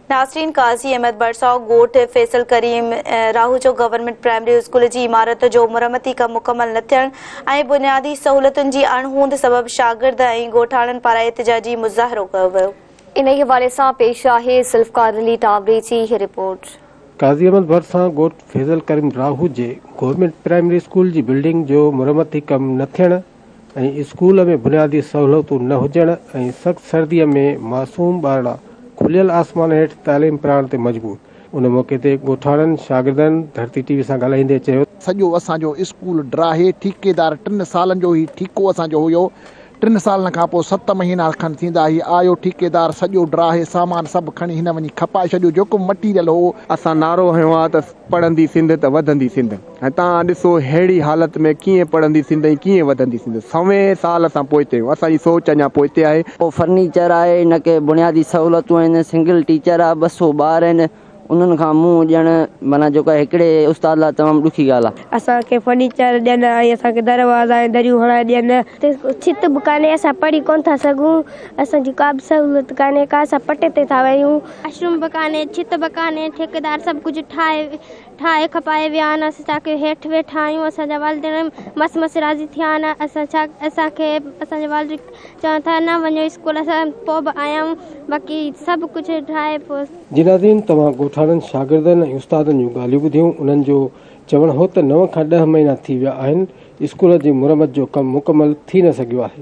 ناسرين قاضي احمد ڀرسائو ڳوٺ Faisal Karim Rahujo government primary school جي عمارت جو مرمتي ڪم مڪمل نه ٿيڻ ۽ بنيادي سهولتن جي اڻ هوند سبب شاگرد ۽ ڳوٺاڻن پاران احتجاجي مظاهرو ڪيو ويو. انهي حوالي سان پيش آهي ذوالفقار علي ٽاوري جي هي رپورٽ. قاضي احمد ڀرسائو ڳوٺ فيضل ڪريم راهوجي گورنمينٽ پرائمري اسڪول جي بلڊنگ جو مرمتي ڪم نه ٿيڻ، ۽ اسڪول ۾ بنيادي سهولتون نه هجڻ ۽ سخت سرديء ۾ معصوم ٻارڙا کليل آسمان هيٺ تعليم پرائڻ تي مجبور، ان موقعي تي ڳوٺاڻن شاگردن ڌرتي ٽي وي سان ڳالهائيندي چيو ته. سڄو اسان جو اسڪول ڊاهي ٺيڪيدار ٽن سالن جو هي ٺيڪو اسان جو هيو، ٽن سالن کان پوء ست مهينا کن ٿيندا هي آيو ٺيڪيدار سڄو ڊاهي سامان سڀ کڻي هن وڃي کپائي ڇڏيو جيڪو مٽيريل هو، اسان نعرو هنيو آ ته پڙهندي سنڌ ته وڌندي سنڌ. ۽ تان ڏسو ههڙي حالت ۾ ڪيئن پڙهندي سنڌ ۽ ڪيئن وڌندي سنڌ. سوين سال اسان پوئتي آهيون. اسان جي سوچ اڃا پوئتي آهي. ڪو فرنيچر آهي نه ڪي بنيادي سهولتون آهن. سنگل ٽيچر آهي ٻه سؤ ٻار آهن انهن کان منهن ڏيڻ معنيٰ جيڪو آهي هڪڙي استاد لاء تمام ڏکي ڳالهه آهي. اسان کي فرنيچر ڏين ۽ اسان کي دروازا ۽ دريون هڻائي ڏين. اتي ڇت به ڪانهي اسان پڙهي ڪونه ٿا سگهون. اسان جي ڪا به سهولت ڪانهي ڪا اسان پٽي تي ٿا وهيون. واش روم به ڪانهي ڇت به ڪانهي ٺيڪيدار سڀ ڪجهه ٺاهي ٺاهي کپائي ويا آهن اسين ڇا ڪيون هيٺ ويٺا آهيون اسان جا والدين مس مس راضي ٿيا آهن اسان ڇا اسان کي اسان جا والدين چون ٿا نه وڃو اسڪول اسان پوء به آيا آهيون باقي سڀ ڪجهه ٺاهي پوء جي ناظرين توهان ڳوٺاڻن شاگردن ۽ استادن جون ڳالهيون ٻڌيون انهن جو چوڻ هو ته نو کان ڏهه مهينا ٿي ويا آهن اسڪول جي مرمت جو ڪم مڪمل ٿي نه سگهيو آهي